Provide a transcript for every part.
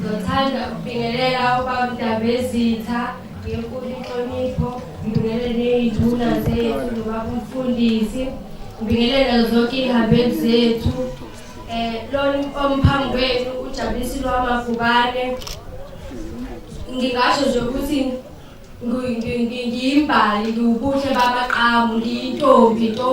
Ndothanda ukubingelela ubaba Ndabezitha ngenkulu inhlonipho ngibingelele ney'nduna zethu nobaba umfundisi ngibingelela zonke iy'hambeli zethu um lona omphambi kwenu ujabulisi lwamagubane ngingasho nje ukuthi ngiyimbali ngiwubuhle bamaqamu ngiyintombi nto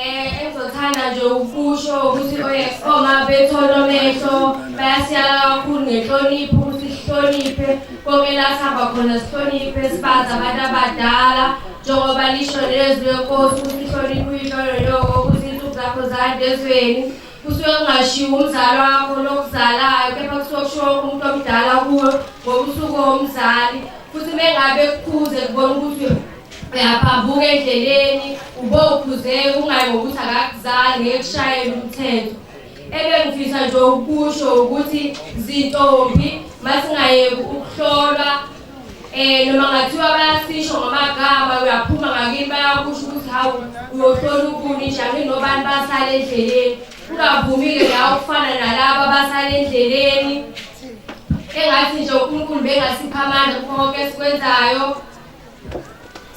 Eh engizothanda nje ukusho ukuthi oyekoma oh, bethola omehlo bayasiyala kakhulu ngenhlonipho ukuthi sihloniphe konke la sihamba khona sihloniphe sibazi abantu abadala njengoba lisho lezwi lenkosi ukuthi ihloniphe uyilololoko ukuthi insuku zakho zande ezweni kusuke kungashiwo umzali wakho lokuzalayo kepha kusuke kushiwo umuntu omdala kuwe ngokusuku womzali futhi mengabe kukhuze kubona ukuthi uyaphambuka endleleni ube uphuzeka ungayi ngokuthi akakuzali ngeke kushayele umthetho ebengifisa nje ukusho ukuthi zintombi masingayeki ukuhlolwa eh noma ngathiwa bayasisho ngamagama uyaphuma ngakini bayakusho ukuthi hawu uyohlola ukuni njani nobani basala endleleni ungavumile la ukufana nalaba basala endleleni engathi nje uNkulunkulu bengasipha amandla konke esikwenzayo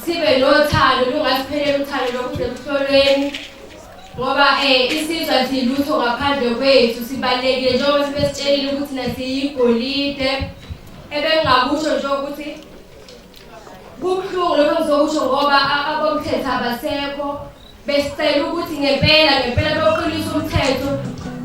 sibe nothando lungasipheleli uthando lokuze kuhlolweni ngoba um isizwa silutho ngaphandle kwethu sibalulekile njengoba sibesitshelile ukuthi nasiyigolide ebengingakusho nje ukuthi kubuhlungu lokho ngizokusho ngoba abomthetho abasekho Besicela ukuthi ngempela ngempela bewuqinisa umthetho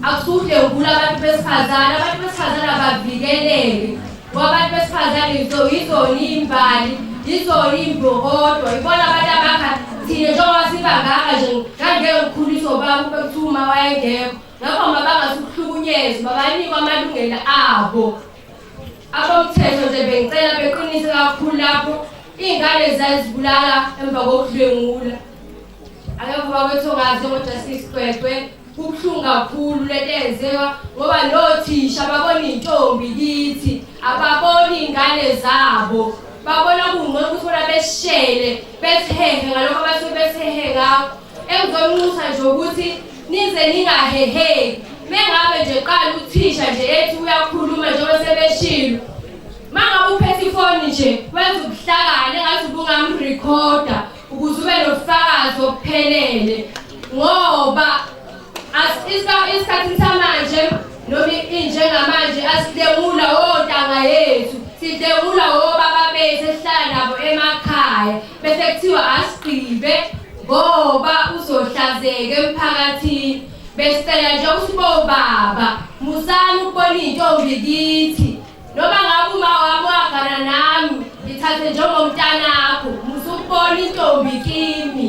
akusude ukula abantu besifazane abantu besifazane abavikeleke ngoba abantu besifazane yizona imbali yizona imbokodwa yibona abantu abakha thina njengoba sibanganga nje ngangeke ngikhuliswe ubaba ube kuthiwa uma wayengekho ngakho mabangasukuhlukunyezwa babanikwa amalungelo abo abomthetho nje bengicela beqinise kakhulu lapho iy'ngane zazibulala emva kokudlwengula akekho bakwethu ongazi njengojustice gcwegcwe kubuhlungu kakhulu lento eyenziwa ngoba nothisha babona iy'ntombi kithi ababoni iy'ngane zabo babona kungcono ukuthi bona beshele bethehe ngalokho abasuke bethehe ngakho Engizonxusa nje ukuthi nize ningaheheki mengabe nje qala uthisha nje ethi uyakhuluma njengoba sebeshilo mangabe uphethe ifoni nje wenza ubuhlakane ngathi ubungamrekhoda ukuze ube nobufakazi obuphelele ngoba isikhathi samanje noma injengamanje asidengula wontanga yethu sidengula wobaba bethu esihlala nabo emakhaya bese kuthiwa asigqibe ngoba uzohlazeka emphakathini besicela nje ukuthi bobaba musani ukubona iy'ntombi kithi noma ngabe uma wami wagana nami ngithathe njengomntanakho musukubona intombi kimi